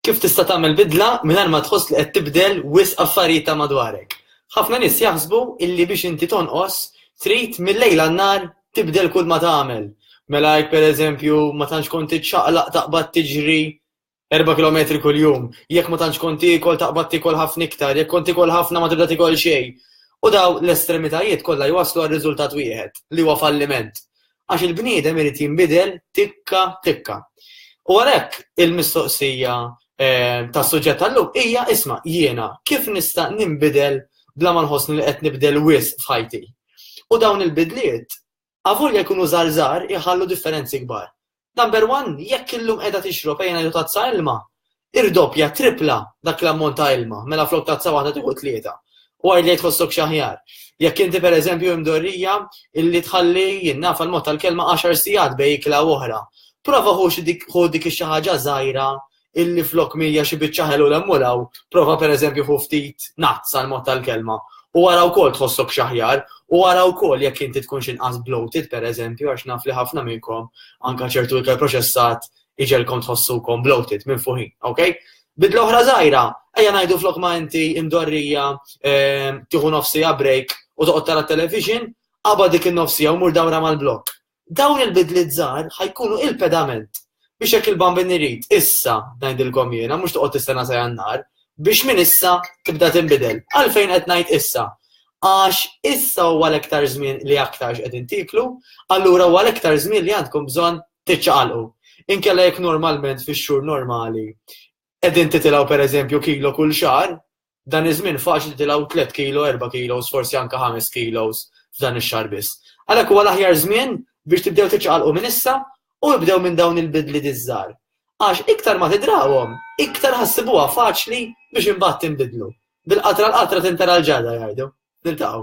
Kif tista' tagħmel bidla mingħajr ma tħoss li qed tibdel wisq affarijiet ta' madwarek? Ħafna nies jaħsbu illi biex inti tonqos trid mil-lejl għan-nhar tibdel kulma tagħmel. Mela jekk per eżempju ma tantx kont tiċċaqlaq taqbad tiġri erba' kilometri kuljum, jekk ma tantx kont tiekol taqbad tiekol ħafna iktar, jekk kont tiekol ħafna ma tibda tiekol xejn. U dawn l-estremitajiet kollha jwasslu għal riżultat wieħed, li huwa falliment. Għax il-bniedem irid jinbidel tikka tikka. U għalhekk il-mistoqsija ehm, tas-suġġett tal-lum hija isma' jiena kif nista' ninbidel bla ma nħossni li qed nibdel wis f'ħajti. U dawn il-bidliet avolja jkunu żarżar iħallu differenzi kbar. Number one, jekk illum qiegħda tixrob ejna ju tazza ilma, tirdoppja, trippla dak l-ammont ta' ilma, mela flok tazza waħda tieħu tlieta. U għid li tħossok xi aħjar. Jekk inti pereżempju imdorrija illi tħalli jien naf għall-mod tal-kelma għaxar sigħat bejn ikla u oħra, prova ħu dik xi ħaġa żgħira illi flok mija xi biċċa ħelu l-emmulaw, prova pereżempju ħu ftit nazz għall-mod tal-kelma u għara wkoll tħossok xaħjar u għara wkoll jekk inti tkun xinqas bloated pereżempju għax naf li ħafna minnkom anka ċertu ikel proċessat iġegħelkom tħossukom bloated, minfuħin, ok? Bidla oħra żgħira, ejja ngħidu flok ma inti imdorrija ehm, tieħu nofsija break u toqgħod tara television, qabad dik in-nofsija u mur dawra mal-blok. Dawn il-bidliet żgħar ħajkunu il-pedament biex jekk il-bambin irid issa ngħidilkom jiena mhux toqgħod tistenna sa jannar biex minn issa tibda tinbidel. Għalfejn qed ngħid issa? Għax issa huwa l-iktar żmien li aktarx qed intiklu, allura huwa l-iktar żmien li għandkom bżonn tiċċaqalqu. Inkella jekk normalment fix-xhur normali qegħdin titilgħu pereżempju kilo kull xahar, dan iż-żmien faċli titilgħu tliet kilo, erba' kilos, forsi anke ħames kilos f'dan ix-xahar biss. Għalhekk huwa l-aħjar żmien biex tibdew tiċċaqalqu minn issa u ibdew minn dawn il-bidliet iż-żgħar. Għax iktar ma tidrawhom, iktar ħa ssibuha faċli biex imbagħad tinbidlu. Bil-qatra l-qatra tintera l-ġarra jgħidu. Niltaqgħu.